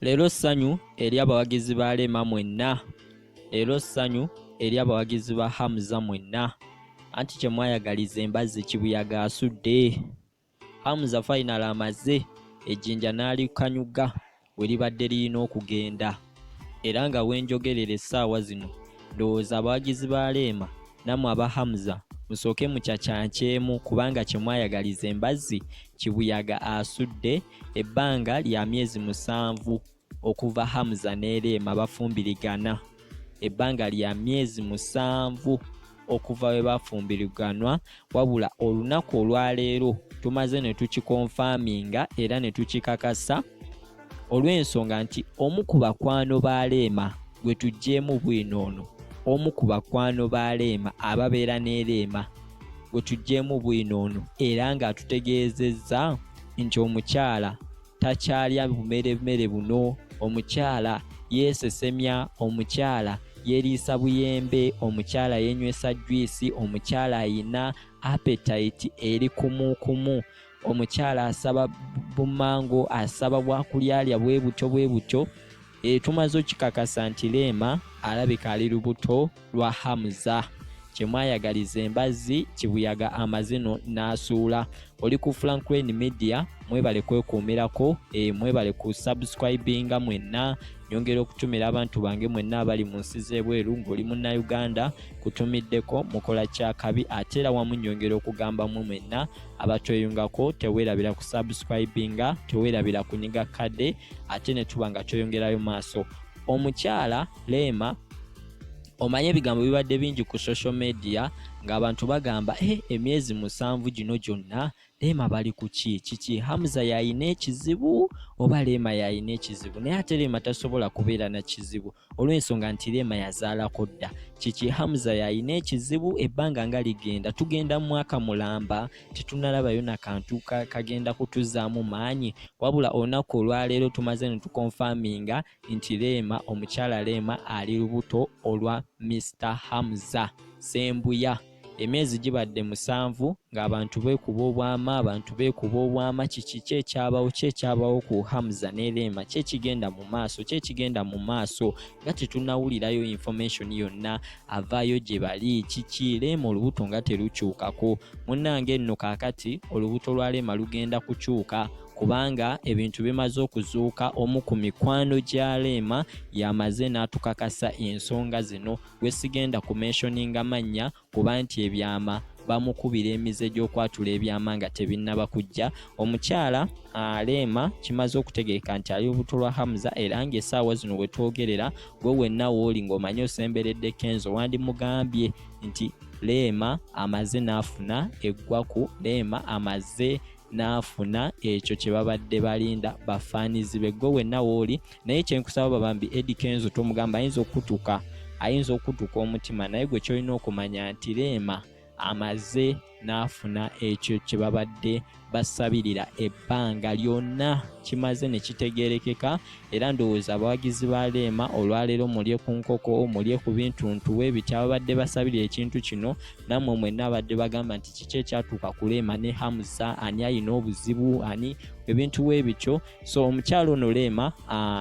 Leero ssanyu eri abawagizi ba Rema mwenna. Leero ssanyu eri abawagizi ba Hamza mwenna. Anti kye mwayagaliza embazzi kibuyaga asudde. Hamza fayinale amaze ejjinja n'alikanyuga we libadde lirina okugenda. Era nga we njogerera essaawa zino ndowooza abawagizi ba Rema Namwe aba Hamza musooke mukyakyankyemu kubanga kye mwayagaliza embazzi kibuyaga asudde ebbanga lya myezi musanvu okuva Hamza ne Rema bafumbirigana ebbanga lya myezi musanvu okuva we bafumbiriganwa wabula olunaku olwaleero tumaze ne tukikonfaminga era ne tukikakasa olw'ensonga nti omu ku bakwano ba Rema gwe tuggyeemu bwino ono omu ku bakwano ba leema ababeera ne leema gwe tuggyeemu bwino ono era ng'atutegeezezza nti omukyala takyalya bumeremere buno omukyala yeesesemya omukyala yeriisa buyembe omukyala yenywesa jwisi omukyala ayina apetite eri kumukumu omukyala asaba bumango asaba bwakulyalya bwe butyo bwe butyo E, tumaze okikakasa nti Leema alabika ali lubuto lwa Hamza kyemwayagaliza embazzi kibuyaga amazino n'asuula oli ku Franklin Media mwebale kwekuumirako e, mwebale ku subscribinga mwenna nyongera okutumira abantu bange mwenna abali mu nsi z'ebweru ng'oli munnayuganda kutumiddeko mukola kyakabi ate era wamu nyongera okugamba mu mwenna abatweyungako teweerabira ku subscribinga teweerabira kunyiga kadde ate ne tuba nga tweyongerayo maaso omukyala leema omanye ebigambo bibadde bingi ku social media ng'abantu bagamba e eh, emyezi musanvu gino gyonna leema bali ku ki kiki hamza yalina ekizibu oba leema yalina ekizibu naye ate leema tasobola kubeera na kizibu olw'ensonga nti Rema yazaalako dda kiki Hamza yalina ekizibu ebbanga nga ligenda tugenda mu mwaka mulamba tetunalabayo na kantu kagenda kutuzaamu maanyi wabula olunaku olwaleero tumaze no tukonfaminga nti Rema omukyala Rema ali lubuto olwa Mister Hamza Sembuya. emyezi gibadde musanvu ng'abantu beekuba obwama abantu beekuba obwama kiki kyekyabawo kyekyabawo ku hamza ne leema kyekigenda mu maaso kyekigenda mu maaso nga tetunawulirayo information yonna avaayo gye bali kiki leema olubuto nga terukyukako munnange nno kaakati olubuto lwa leema lugenda kukyuka kubanga ebintu bimaze okuzuuka omu ku mikwano gya leema yamaze n'atukakasa ensonga zino gwe sigenda ku mentioninga mannya kuba nti ebyama bamukubira emize gy'okwatula ebyama nga tebinnaba kujja omukyala aleema kimaze okutegeeka nti ali lubuto lwa hamza era ng'esaawa zino we twogerera gwe wenna wooli ng'omanyi osemberedde kenzo wandimugambye nti leema amaze n'afuna eggwaku leema amaze n'afuna ekyo kye babadde balinda bafaanizi be gwe wenna wooli naye kyenkusaba babambi edi kenzo tomugamba ayinza okutuka ayinza okutuka omutima naye gwe kyolina okumanya nti leema amaze n'afuna ekyo kye babadde basabirira ebbanga lyonna kimaze ne kitegeerekeka era ndowooza abawagizi ba leema olwaleero mulye ku nkoko mulye ku bintu ntuwe ebitya babadde basabirira ekintu kino nammwe mwenna abadde bagamba nti kiki ekyatuuka ku leema ne hamusa ani alina obuzibu ani ebintu webityo so omukyalo ono leema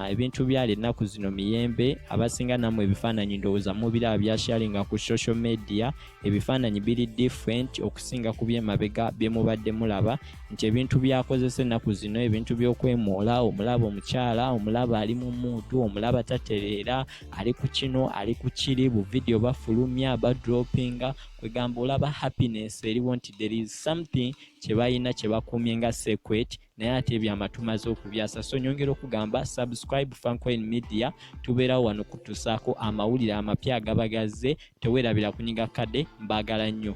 ebintu byali ennaku zino miyembe abasinga nammwe ebifaananyi ndowooza mubiraba byasharinga ku social media ebifaananyi biri different okusinga ku byemabega byemubadde mulaba nti ebintu byakozesa ennaku zino ebintu by'okwemoola omulaba omukyala omulaba ali mu muudu omulaba tatereera ali ku kino ali ku kiri bu video bafulumya ba droppinga kwegamba olaba happiness eriwo nti there is something kyebalina kyebakumye nga secret naye ate ebyama tumaze okubyasa so nyongera okugamba subscribe fancoin media tubeerawo wano kutusaako amawulire amapya agaba gazze tewerabira kunyiga kade mbagala nnyo